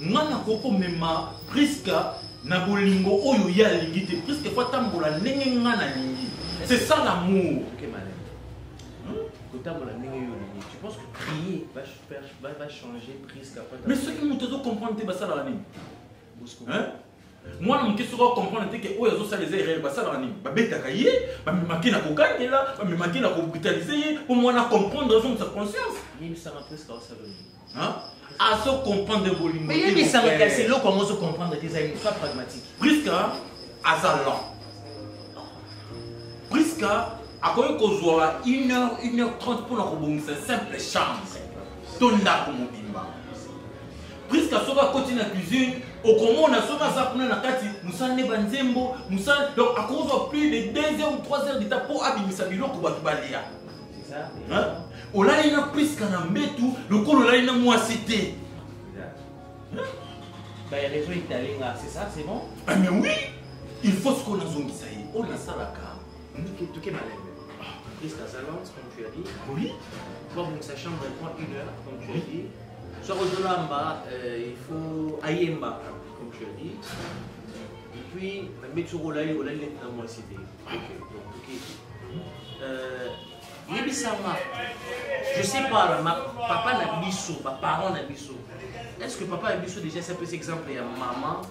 nga nakoki komema priska na bolingo oyo ye alingi te priska efo atambola ndenge nga nalingi c'est ça l'amour kotambola ndenge yo olingi tu penses que prier va faire va, va changer priska mais soki moto azo comprendre te basalaka nini mwana moke soki akomprendre te ke oyo azosala eza erreur basalaka nini babetaka ye bamemaki na kokangela bamemaki na kobritalise ye mpo mwana akomprendre azongisa conscience yebisanga preske osala nini azo comprendre bolingo mais yebisanga kasi eloko yango ozo comprendre te eza une fois pragmatique priska aza lent priska akoki kozwa une heure une heure trente mpo na kobongisa simple chambre to ndako mobimba Prisca soki akoti na cuisine okomona soki aza kuna na kati mosala nde banzembo mosala donc akozwa plus de 2 heures ou 3 heures deta mpo abimisa biloko bato balia olali na priska na mbetu lokola olali na mwasi te bah, ah, mais oui il faut ce qu'on a zone ça y on a ça là car tout est malade Prisca Salance, comme tu as dit. Oui. Toi, donc, sa chambre, elle prend une heure, comme tu as dit. Soki ozolamba, euh, il faut ayemba, comme tu as dit. Et puis, na mbe soki olali, olali neti na mwasi te. Donc, ok. Euh, yebisanga, je sais pas, ma, papa na biso, ba parents na biso, est-ce que papa na biso déjà ça peut être exemple ya maman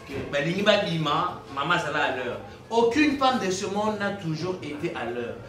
que balingi babima, maman azala à l'heure. Aucune femme de ce monde n'a toujours été à l'heure.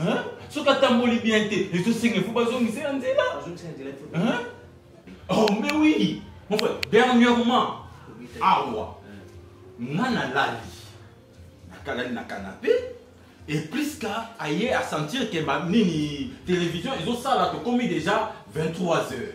Hein? soki atamboli bien te ezosenga efo bazongisa ya nzela Hein? oh mais oui mon frère dernièrement awa nga nalali nakalali na canapé et priska aye asentir ke ba- nini télévision ezosala tokomi déjà 23 heures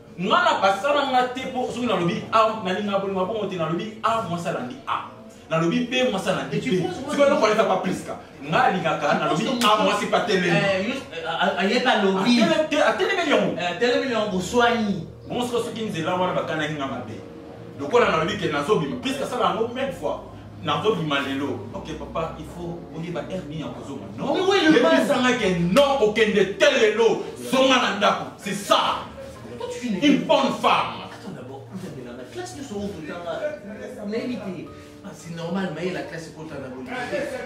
nga na basala nga te mpo soki nalobi a ah, nalingi nabolinga bongo te nalobi a ah, mwasi alandi a ah. nalobi mpe mwasi alandi mpe soki eloko aleka pa pliska nga alingaka nalobi a mwasi mpe atelematelemeli yango atelemeli yango boswani bongo soki soki nzela wana bakanaki nga mabe lokola nalobi ke nazobima pliska asala yango meme fois nakozima lelo ok papa il faut oyeba heure nini ya kozonga noesangaki eh non okende te lelo zonga na ndako c'est ça une bonne femme ah, c'est normal maye la classe ekota na bolingo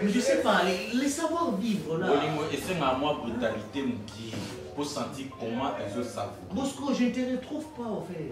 mais je sais pas les savoir vivre là bolingo esengaka mwa brutalité mokie pour sentir comment ezosavoir bosco je ne te retrouve pas en fait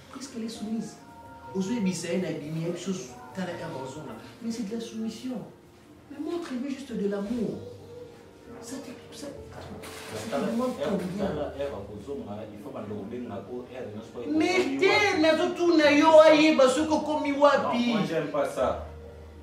Presque elle est soumise. ozoyebisa ye na ebimi ya biso tala eva ozonga mais c'est de la soumission mais montre lui juste de l'amour ça te ça mais te nazotuna yo ayeba soki okomi wapi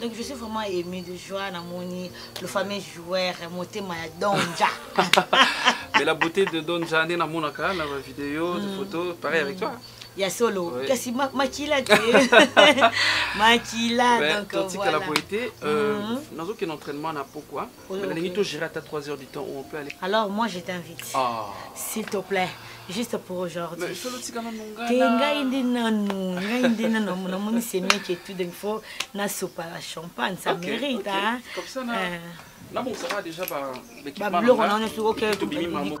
Donc je suis vraiment ému de joie namoni le fameux joueur motema ya Donja. Mais la beauté de Donja nde namonaka na ba vidéo, de mm. photos, pareil avec toi. Il y a solo oui. kasi ma, makila te makila ben, donc totika voilà. la beauté euh, mm -hmm. nazokende entraînement na pokwa nalingi to gérer ata 3 heures du temps où on peut aller alors moi je t'invite ah. s'il te plaît juste pour aujourd'hui te ngai nde nanu ngai nde nanu namoni semeki etu donc faut nasopa la champagne ça mérite hein nabongisaka déjà babiloko na wana soki oke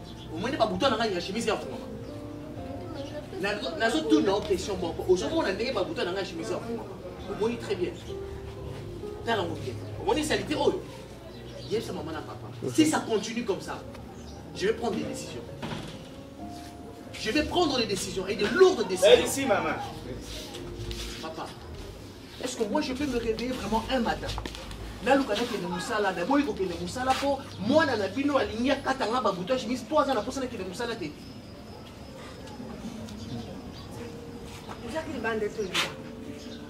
omoni babuta na ngai ya chemise ya fungama nazotuna o question moko ozomona ndenge babuta na ngai ya chemise ya fungama omoni très bien tala ngo bien omoni salite oyo yebisa mama na papa si ça continue comme ça je vais prendre des décisions je vais prendre des décisions et de lourdes décisions merci maman papa est ce que moi je peux me réveiller vraiment un matin naluka nakende mosala naboyi kokende mosala mpo mwana na bino alingi akata nga babuto ya chemise mpo aza na mposa nakende mosala te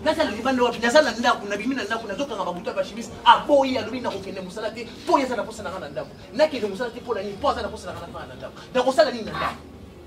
nazala libanda wapi naza na ndako nabimi na ndako nazokanga babuto ya bachemise aboyi alobi nakokende mosala te mpo ye aza na mposa na nga na ndako nakende mosala te mpo na nini mpo aza na mposa na nga na fana na ndako nakosala nini na ndako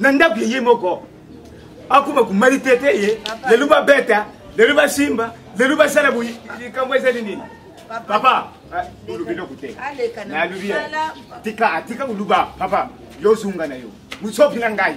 na ndako ye moko akoma kumali te te ye lelo babeta lelo basimba lelo basala boyi likambo ezali nini papa ah, olobi eloko te nalobi tika atika oluba papa yo ozonga na yo mosopi na ngai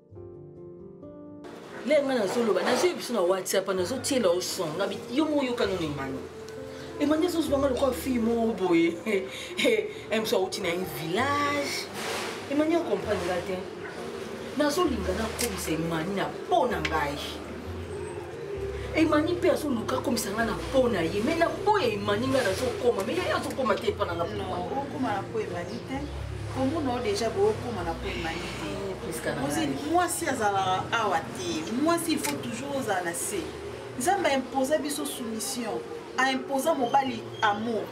lere ngai nazoloba nazwi biso na whatsapp nazotiela yo son na yo moko yokano na emani emani azozwa ngai lokola fille moko boye emso auti na ye village emani acomprendre nga te nazolinga nakomisa emani na mpo na ngai emani mpe azoluka akomisa ngai na po na ye mai na po ya emani ngai nazokoma mai ye azokoma te epa na nga okoma na po emani te komona o deja bookoma na po emani te mwasi azalaka awa te mwasi il faut toujours ozala na se nzambe aimposa biso soumission aimposa mobali amour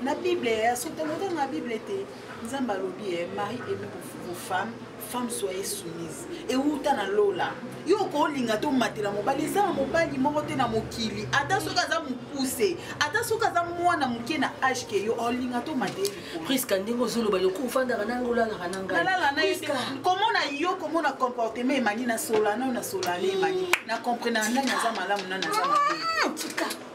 na bible ya sotelotanga bible te nzambe alobi ye eh, marie emi bofemme femme soye soumise ewuta na lola yo okolinga tomatela mobali eza na mobali moko te na mokili ata soki aza mokuse ata soki aza mwana moke na age ke yo olinga tomatela priska ndenge ozoloba loko ofandaka nanga olalaka na ngaikomona yo komona comportement emani na solana na solana emani na comprenaa nani aza malamu nani aza mabe ah,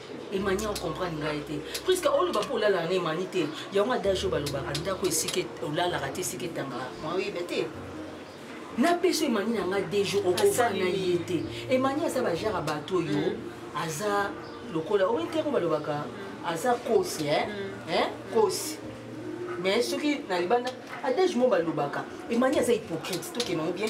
emani okomprendre ngai te puiske oloba mpo olalaka na emani te yango adage oyo balobaka ndako esika olalaka te esika etangaka oyeba te napesi emani na ngai de jour okofa na ye te emani aza bajare ya bato oyo mm. aza lokola oyo te yango balobaka aza kosi mm. kosi mais soki na libanda adage mo balobaka emani aza hypocrite tokema ngo bien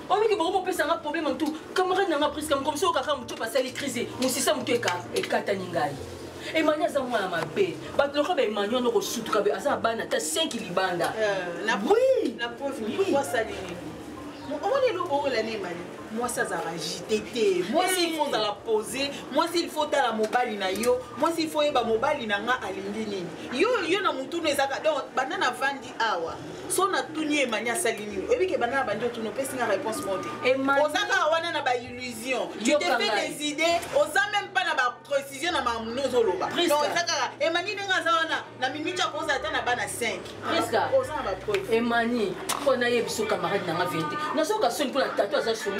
omiki boko bopesa nga problème en tout camarade na nga priska mokomisi oyo kaka moto basali crise mosisa moto ekatani ngai emani aza mwana mabe bato lokola ba emani wana okosutuka be aza na bana ata 5 libanda omoni eloko oyo elani emani mwasi azalaka agite te mwasi ilfo ozala pose mwasi ilfo otala mobali na yo mwasi ilfo oyeba mobali na nga alingi nini yo yo na motuna ezaka donc banda na vandi awa so natuni ye mani asali nini oyebi ke bana na bandi otuni opesi nga réponse moko te oza kaka wana na baillusion tu te fais des idées oza même pas na baprécision na makambo nde ozoloba donc eza kaka emani ndenge aza wana na minute akozala ata na bana 5 oza na bapreuve emani mpo nayebi so camarade nanga vérité nazoka soni mpo na tato aza soni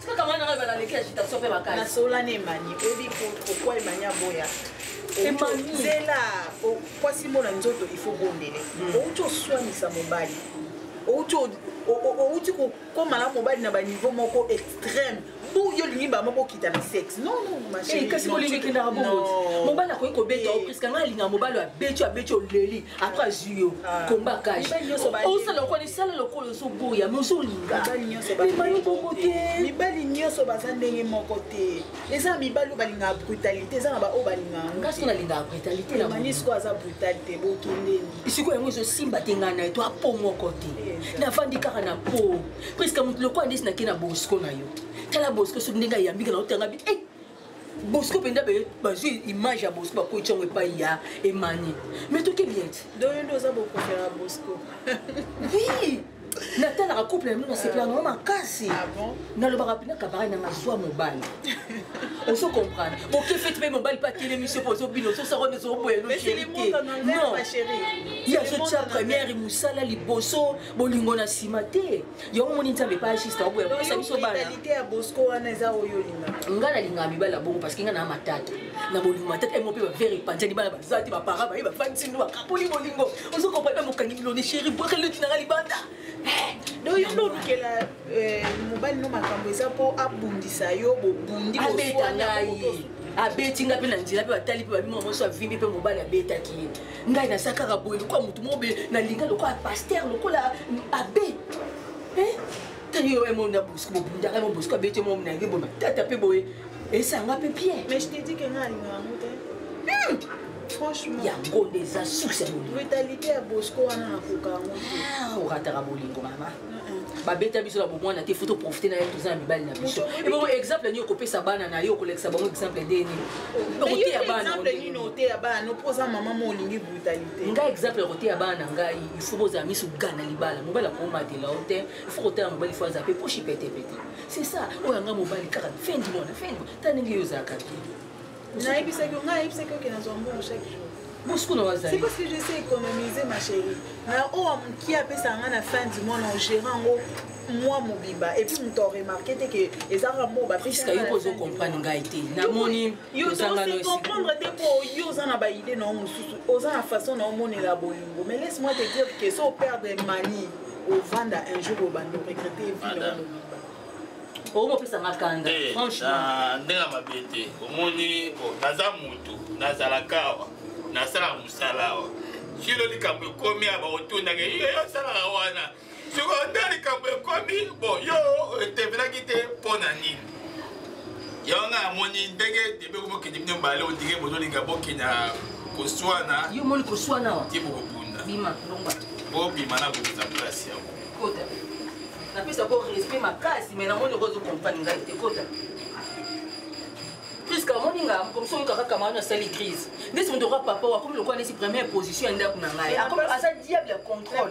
tika kama na ba na leki agitation pe makasi na sola ne mani obi ko pourquoi mani aboya zela kwasi mona nzoto il faut bondele hmm. outi oswanisa mobali outi outi kokoma na mobali na baniveau moko extrême bo yo olingi bango bokita na sexe nonkasi eh, olingi ekendaka bongo mobali akoki kobeta yo eh. priska ngai alingaka mobali abeti abeti oleli après azwi yo ah. komba kaje osala lokola esala lokola ozoboya me ozolingamema yo bongo te mibali nyonso baza ndenge moko te eza mibali oyo balingaka brutalité eza na baoyo balingaka ngasi nalingaka brutalité namani sikoyo aza brutal te bokendeni sikoyo yango ezosimba te ngai na ye to apo moko te nafandi kaka na po presque moto lokola ndesi nake na bosco na yo tala bosco soki ndenge ayambika na otanga bi eh, bosco mpenza bazwi image ya bosco bakoti yango epai ya emani mais toke bien ti doyo nde oza bokofela bosco oui natalaka couple na bino nasepela nango makasi ah nalobaka mpena kabara nanga zwa mobali ozo comprendre boke feti mpe mobali mpe atelemi se mpo ozobino ozosako nde ozoboyanoye azotya première mosala liboso bolingo na nsima te yango omoni nzambe epa juste aoboya kopesa biso banalite ya bosco wana eza oyo olingaka ngai nalingaka mibali ya bongo parce que ngai naa matata na bolingo matata emo mpe bavere epanzani bana baza te bapara baye bafandisi ndu bakapoli bolingo ozo kopali bamokangi biloni sheri bwaka eleki na ngai libanda eh, donc yo nde olukela eh, mobali no makambo eza mpo abundisa yo bobundi abeta ngai abeti ngai mpe na nzela mpe batali mpe babima moso avimbi mpe mobali abetaki ye ngai naza kaka boye lokola motu moko boye nalinga lokola paster lokola abe tani yo emo na bosco bobundaka emo bosco abeti emo na ye boye matata mpe boye esanga mpe bien mais je te dis que nga alinga yango te hmm! franchement yango nde eza susi ya bolingo vitalité ya bosco wana nakoka yango te ah, orataka bolingo mama babeta biso na bomwana te fo toprofite na ye toza na mibali na biso ebongo exemple nini okopesa bana na yo okolekisa bango exemple nde nini okoteya bana mpo oza mama mo olingi brutalité ngai exemple ya koteya bana na ngai ifo bozala miso gana libala mobali akomatela yo te ifo kotala mobali fo aza mpe poshi petepete c'est ça oyo anga mobali kaka fendi mwana fendi ta ndenge yo ozalaka te nayebisaki yo ngai nayebisaki oke nazwa mbongo chaque jour bosikuna wazali c'est parce que je sais économiser ma chérie na oyo oh, mokie apesaka ngai na fin du mois na ogérant yango mwa mobimba epuis moto aremarke te ke eza kaka mo bapriska yo mpo ozocomprendre ngai te namoni ozangaocomprendre te mpo yo oza na baide na yo mosusu oza na façon na omonela bolingo mais laisse moi te dire ke so operdre mani ovanda un jour obanda oregrete vie na yo mobimba omopesa nga kanda eh, franchement ndenge mabe te omoni naza motu nazalaka awa nasalaka mosala awa kilo likambo ekomi ya baotundaka yo osalaka wana siko nde likambo ekomi bo yo etemelaki te mpo na nini yango ngai amoni ndenge debe komokende bino mbale ondenge bozolinga bokenda koswana yo omoni koswana wa ti bokobunda bima longwa bobima na bokeza place yango kota napesa ko respect makasi mais namoni okozo comprendre ngai te kota priska amoni nga mokomisi oyoka kaka maano asali crise ndesi moto oka papa oyo akomi lokola nesi première position ya ndako na ngai aza diable ya contrôle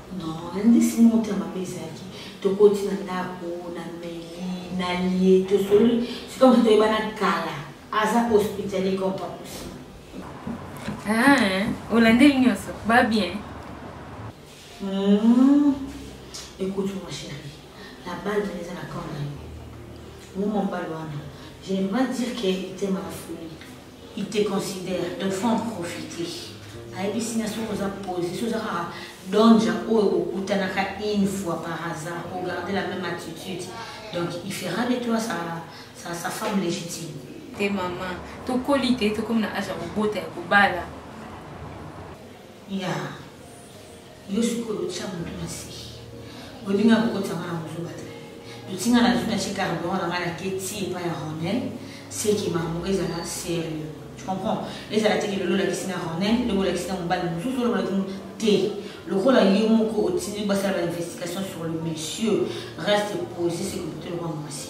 Non, nandisi moto ya mabe ezalaki tokoti na ndako na meli na lie tosololi sika mosu toyebana kala aza hospitalier comme pas possible Ah, olandeli nyonso ba bien Hmm. Écoute, ma chérie, la balle venait à la corne. Moi, mon balle, je ne vais pas dire qu'il était ma folie. il te considère donc faut en profiter ayebisi na soki oza pose soki oza kaka donja oyo kokutanaka une fois par hasard ogarde la même attitude donc il fera de toi sa, sa, sa femme légitime te mama tokoli te tokomi na age ya kobota ya kobala ya yeah. yo sikoyo otya moto na se bolinga kokotisa ngai na kozoba te totinga na zwi na tie carburant na ngai na keti epai ya ronel seke makambo ezala serieux tu comprends ezala teke lelo olakisi na ronel lelo olakisi na mobali mosusu olobaki te lokola ye moko otindi basala bainvestigation sur le monsieur reste posé seke moto elokwa mwasi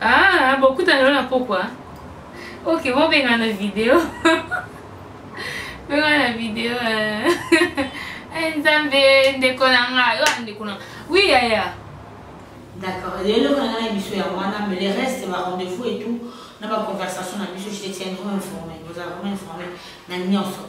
Ah, bokutana lelo na pokwa ok bobengana na video bengana na video eh, nzambe ndeko na nga yo ndeko na wi yaya d'accord lelo kona na biso ya wana mais le reste ba rendez-vous et tout na ba conversation na biso je te tiendrai informé vous avez informé na nyonso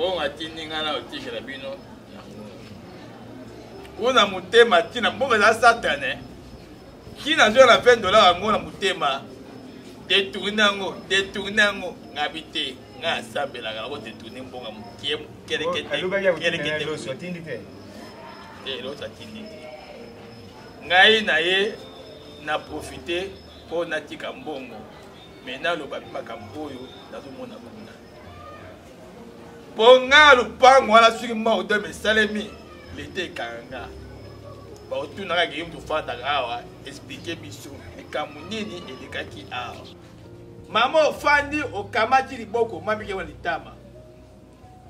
bongo atindi ngai na otikela bino kuna motema ntina mbongo eza satane ntina azwa na 20 dolar yango na motema detourne yango detourne yango ngabi te nga asambelaka nako te tourne mbonga mokie keleketeleketeatindi te eloso atindi te ngai na ye na profite mpo natika mbongo me naloba mpe makambo oyo nazomona kuna mpo nga lopango wana soki maudem esalemi leta ekanga baotunaka keyim tofandaka awa esplike biso likambo nini elekaki awa mama ofandi okamati liboko mamike wa litama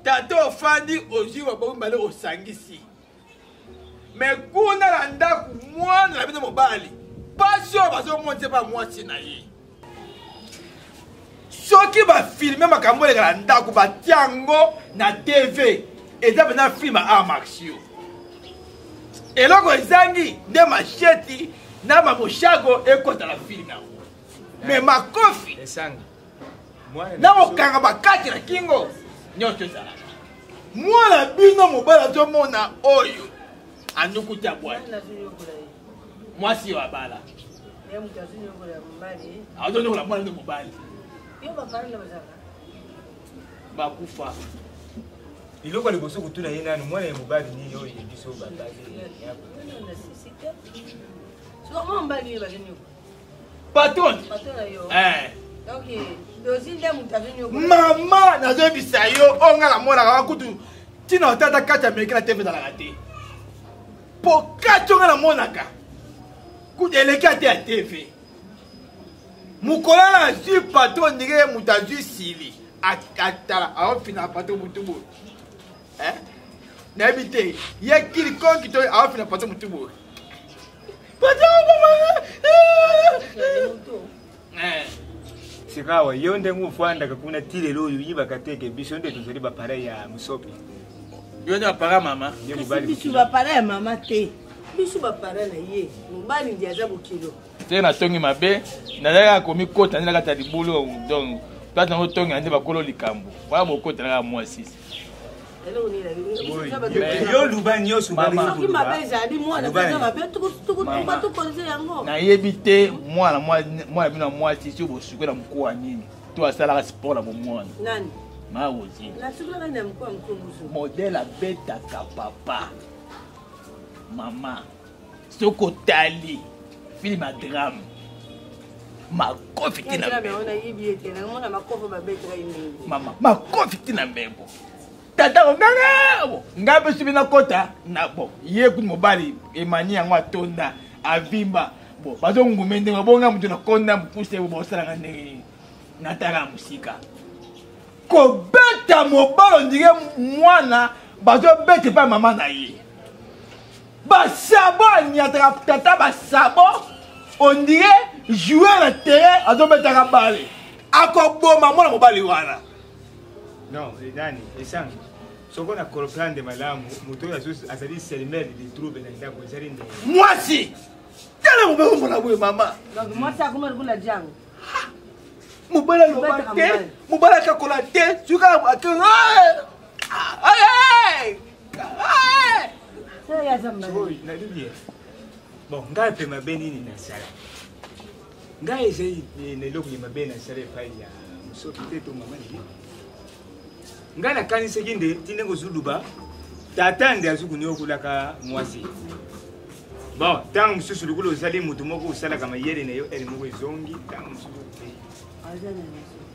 tata ofandi ozwi baboko mibale osangisi me kuna na ndako mwana na bino mobali mpasi oyo bazomonisa epa mwasi na ye soki bafilme makambo oleka na ndako batya yango na tv eza mpenza filme ya art martio eloko ezangi nde masheti na mamoshago ekota na filme yango me makofi na kokanga bakati na kingo nyonso ezalaka mwana bino mobali azomona oyo anukuti abwaki mwasi yo abala azonyokola mwana nde mobali bakufa eloko ya liboso kotuna ye nani mwana ya mobali nini oyo ye biso babali patron eh. mama nazoyebisa yo oyo ngai namonaka wa kutu ntina otata kati ya meke na teve ezalaka te mpo kati oyo ngai namonaka kutu eleki ate ya teve mokolo oyo azwi patron ndenge ye moto azwi sili atala aofina patron motu boye eh? nayebi te ye kili konki to aofi na pato motu boye eh. sikawa yo ndenge ofandaka kuna ti lelo oyo oyibaka te ke biso nde tozali bapareil ya mosopi yo nde bapareil mama biso bapareil ya mama te biso bapareil na ye mobali ndi aza bokilo te natongi mabe nazalaka komikota nde na kati ya libulu donc place nango tongi ande bakolo likambo wana bokota na kaka mwasi yo luba nyonso soki mabe ezali mwana eza mabe tukutukutuka tokonze yango nayebi te mwana mwana bino ya mwasi soki bosuki na mokuwa nini to asalaka sport na bomwana nani maozi modele abetaka papa mama soki otali film ya drame makofi ti na mama makofi ti na mbebo tata ongangabo ngai mpe soki nakota na bo ye kuti mobali emani yango atonda avimba bo bazongume ndenge bonga moto nakonda mopuse bo baosalaka ndenge nini natala mosika kobeta mobali ondire mwana bazobeta epai mama na ye basabo anyataka tata basabo ondire joueur na terrain azobetaka bale akoboma mwana mobali wana non edani esangi soko na comprendre malamu moto oyo azali selmel de trouble na ndako ezali nde mwasi tala mobali omona boye mama mwasi akoma lokola jango mobali aloba te mobali akakola te soki akee bon ngai mpe mabe nini nasala ngai ezali na eloko ya mabe nasala epai ya mosoki te to mama nini ngai nakanisaki nde ti ndenge ozuluba tata nde azwi kuniokolaka mwasi bon ntango mosusu lokola ozali moto moko osalaka mayele na yo ele moko ezongi ntango mosusu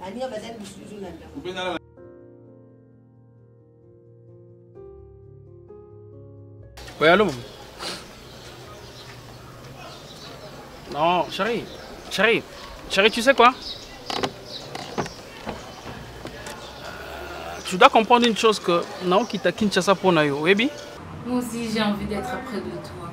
baninga bazali lisusu na ndako Oui, allô Non, chérie, chérie, chérie, tu sais quoi Tu dois comprendre une chose que Nao quitte Kinshasa pour Nayo, oui, Moi aussi, j'ai envie d'être près de toi.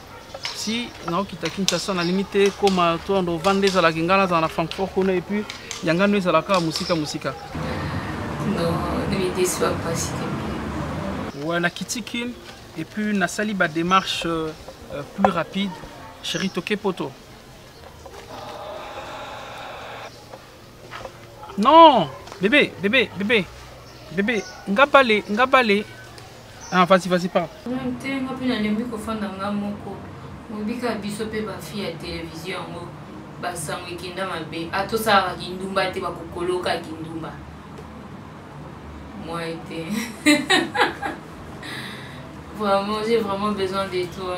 si naokita kinshasa nalingi te koma to ndo vanda ezalaka ngai nazala na francfort kuna epuis yanga no ezalaka mosika mosika ouais, nakiti kin epuis nasali badémarche euh, euh, plus rapide chéri toke poto Non, bébé, bébé, bébé, bébé, nga bale, nga bale. Ah, vas-y, vas-y, parle. Te nga pe nalembi kofanda nga moko. Mobika biso pe ba fille ya télévision yango basango ekenda mabe. Atosalaka kindumba te bakokoloka kindumba. Moi te. vraiment, j'ai vraiment besoin de toi.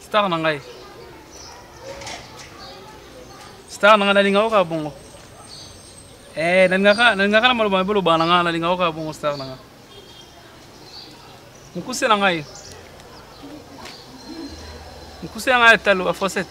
star na ngai star na ngai nalingaka oyo kaka bongo eh, nalingaka na maloba mabe olobaka na ngai nalingaka oyo kaka bongo star na ngai mokuse na ngai mokuse na ngai ya talo ya fosete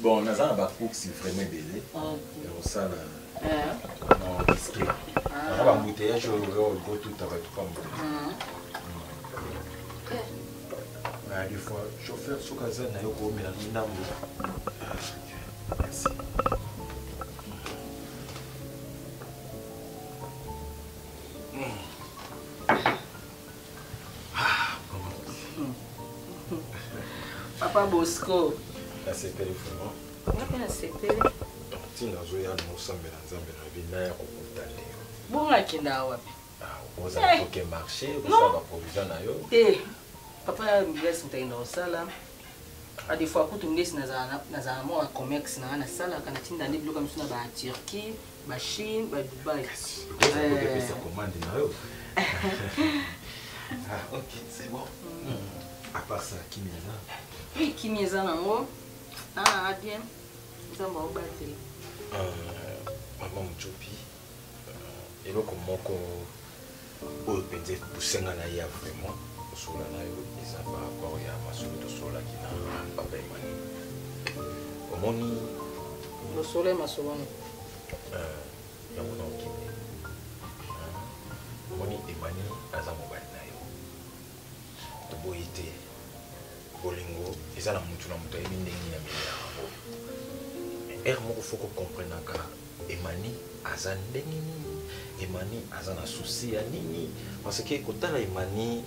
Bon, naza na ba cooks vraiment ebele. Okay. Ya kosala. Eh. Non, risqué. Ah. Naza ba bouteillage oyo oyo go tout à tout comme. Ah. Na des fois chauffeur soka za na yo ko mela ndambo. Merci. papa bosco nasepeli vraiment ngape nasepeli ntina azoya na mosambela nzambe na bi na ya kokuta nde yo bongo akenda wapi ah, ozala eh. koke marché osala baprovision na yo te papa mbila esutaki na kosala a des fois kutu ngesi nazala nazala mwa ba commerce na nga nasalaka natinda nde biloko ya misu na ba turquie ba chine ba dubai Pesa commande na yo. Ah, ok, c'est bon. À part ça, kimia eza. oui kimi eza nango ah bien nzambe aobatela Euh, maman Muchopi. Euh, eloko moko oyo mpenza epusenga na ya vraiment kosolola na yo eza par rapport ya masolo tosololaki na papa emmanuel omoni mosolo ya masoloni euh, yango na okende omoni emmanuel aza mobali toboyi te bolingo eza na mutu na mutu ayebi ndenge nini amemela yango ere moko fo kocomprenaka emani aza ndenge nini emani aza na souci ya nini parce que kotala emani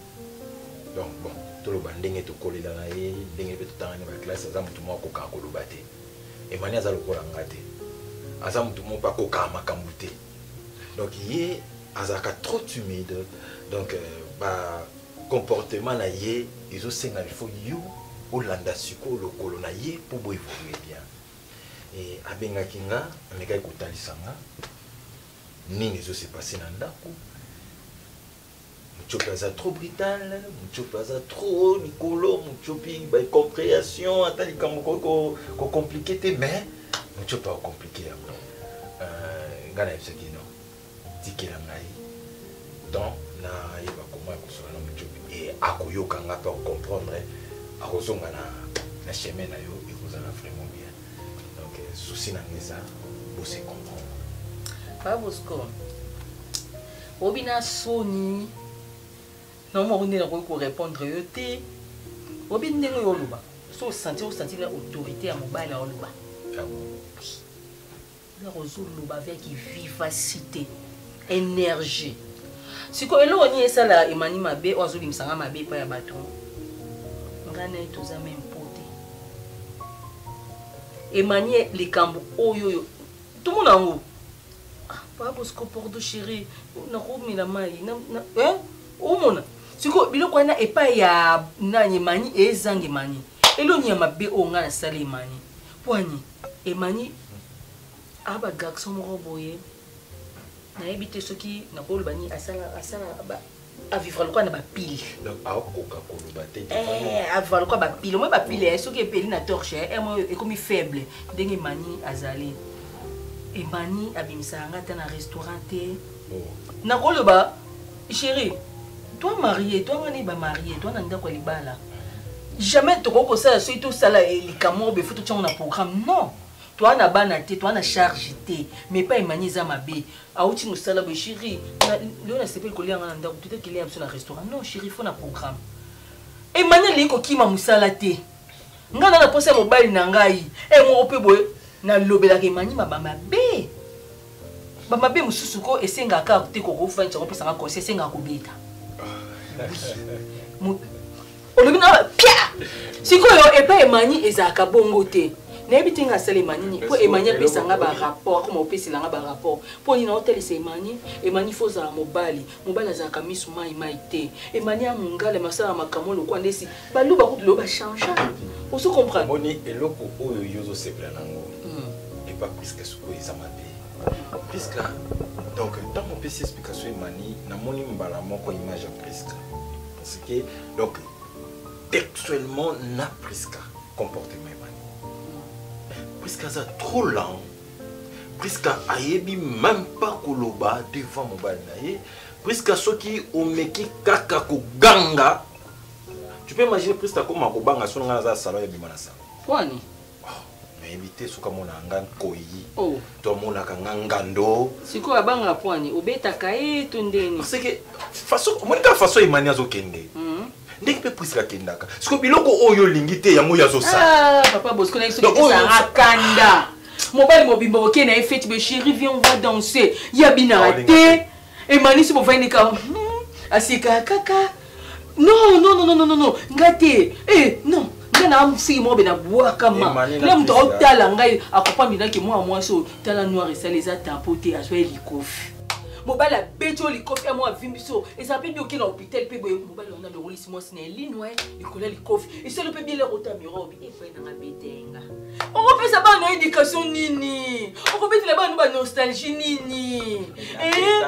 donc bon toloba ndenge tokolela na ye ndenge mpe totangani baklasse aza motu moko akokaka koloba te emani aza lokola nga te aza motu moko mpe akokaka makambo te donc ye azalaka trop timide donc euh, ba comportement na ye ezosenga il faut yo olanda sikoyo lokolo na ye mpo boevolue bien e, abengaki nga amekaki kotalisa nga nini ezose passe na ndako Mutshopi aza trop brutal, Mutshopi aza trop likolo, Mutshopi ba comprehension ata likambo ko ko compliquer te mais Mutshopi a compliquer ya bon. Euh ngana yebisa ki non. Tikela ngai. Donc na yeba comment akosola na Mutshopi et akoyoka nga pe comprendre akozonga na na chemin na yo ekozala vraiment bien. Donc souci na ngeza bo se comprendre. Pas Bosco. obi na soni na moko nde nakoki korepondre yo te obi ndenge oyo oloba so osantir osantir na autorité ya mobali na oloba loko ozoloba avec vivacité énergie sikoyo eloko nini esala emani mabe oyo azobimisa nga mabe epai ya bato ngai naye toza meme po te emani likambo oyo oyo tomona yango papa bosco pordo chéri nakomela mai eh? omona sikoyo biloko wana epai ya nani emani ezanga emani eloni ya mabe oyo ngai nasali emani pwani emani a bagarso moko boye nayebi te soki nakoloba nini asala avivra lokola na bapile akoka koloba te eh, avivra lokola bapile omoi bapile eh, soki epeli na torche eh, mo ekomi faible ndenge emani azali emani abimisaka nga ata na restaurant te oh. nakoloba chéri toi marie toi ngani bamarie toi na ndako ya libala jamais tokoki kosala soki tosala likambo moko befo totyango na programme non toa na bana te toa na charge te mais epai emani eza mabe awuti mosala boye shiri lelo nasepeli kolia nga na ndako tuta kilia ya biso na restaurant non shiri fo na programme emani alingi kokima mosala te ngai na naposa ya mobali na ngai e moko mpe boye nalobelaka emani maba mabe bamabe mosusu ko esengaka te kokofandisa kopesanga kosi esengaka kobeta olobi na pia sikoyo epai emani ezalaka bongo te nayebi te nga asalema nini mpo emani apesa nga barapport akoma opesela nga barapport mpo nini naotalisa emani emani fo ozala mobali mobali azalaka miso mai mai te emani ya mongala masala makambo lokola ndesi baluba kutu lelo bachange ozo comprendre moni eloko oyo yo ozosepela nango hmm. epa priske sikoyo eza mabe priska donc ntango opesi explication emani namoni mbala moko image ya priska ce que donc textuellement na Prisca comportement ebani Prisca aza trop lent Prisca ayebi même pas koloba devant mobali na ye Prisca soki omeki kaka koganga tu peux imaginer Prisca akoma kobanga soki ngai naza salon ebima na salon nayebi te soki amonaka nga nkoyi oh. to amonaka nga ngando sikoyo abanga pwani obetaka ye to ndeni parceke omoni kaka faso emani azokende hmm. ndenge mpe prisila akendaka sikoyo biloko oyo olingi te yango oyo azosalaakanda ah, mobali mobimba oke na ye feti be chéri vie on va danser ya binaka te emanisi bovandi kaka hmm, asikaka kaka non non non non non nga te eh non nga na mosiki moko be na bwakama na moto aotala ngai akopambi naki mwana mwasi oyo tala noir esali eza tapo te azwa ye likofi mobali abeti oyo likofi ya mwa avimbi so ezala mpe bioke na hôpital mpe boye mobali wana alongolisi mwasi na elinwa likolo ya likofi esali mpe biele kota mirobi efai nanga betenga okopesa bana na éducation nini okobetela bana ba nostalgie nini eh?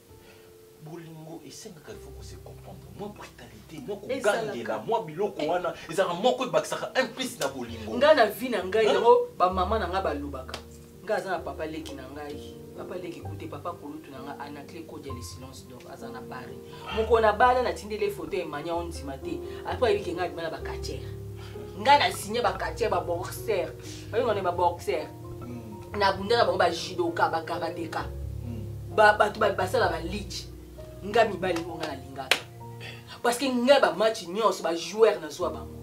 bolingo esengaka ifo ko se comprendre mwa brutalité mwa kogangela mwa biloko wana ezalaka moko ebakisaka un plus na bolingo ngai na vie na ngai yango bamama na ngai balobaka ngai aza na papa leki na ngai papa leki kute papa kulutu na ngai anacle kodia le silence dor aza na paris moko na bala natindeli foto ya emania ondima te apres ayebike ngai adima na bacatiere ngai na signe bacatiere baboxer bayongana baboxer hmm. na bunda na bango ba judoka ba karateka hmm. bato basala ba leach nga mibali ngo nga nalingaka parce que nga bamatch nyonso bajoueur nazwa bango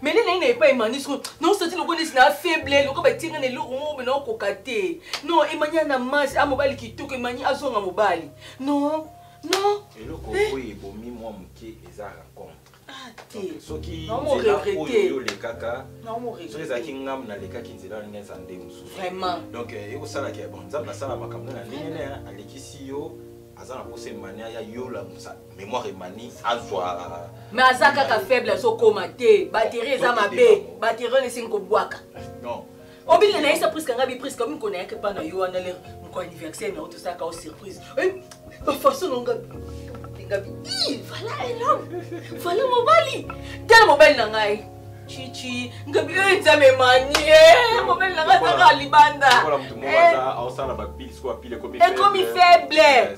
mais nde naye na epai emani soko nosati loko nesi na faible loko batinga na eloko moko bena okoka te non emani ana masi a mobali kitoko emani azonga mobali non non eloko eh. oyo ebomi mwa moke eza rencontre Ah, soki nzela oyo olekaka soki ezalaki ngambo nalekaki nzela oyo ndenge eza nde mosusu donc eh, ekosalaki bon nzambe asala makambo na ndenge ne alekisi yo aza na posa emani aya yola mémoire emani azwa mais aza kaka faible azokoma te batterie eza mabe batterie oyo esengi kobwaka obinga na yesa priska ngai bi priska omi kona yake pa na yo wana lere moko anniversaire na yo tosaka o surprise bafaso na nga nga bi vala elom vala mobali tala mobali na ngai chichi nga bi oyo nzambe mani eh, mobali na ngai azaka libanda ekomi faible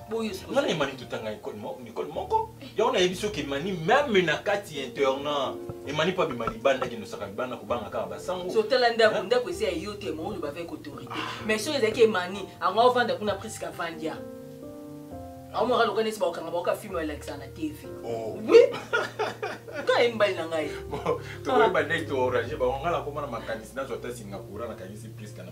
nga na emani totanga nicole moko yango nayebi soki emani meme na kati ya internat emani mpo abima libanda kendosaka libanda kobanga kaka basangosotala ndako ndako esi ya yo te maoyo bavai kotorite ah. mais soki ezalaki emani ango avanda kuna priske avandia aomaka loka neti bakokanga baoka filme balakisa na tv oh. wi ka ye mobali na ngai tokoyeba ndenge torange bango ngai nakoma na makanisi nazwa ta singapura nakanisi priske na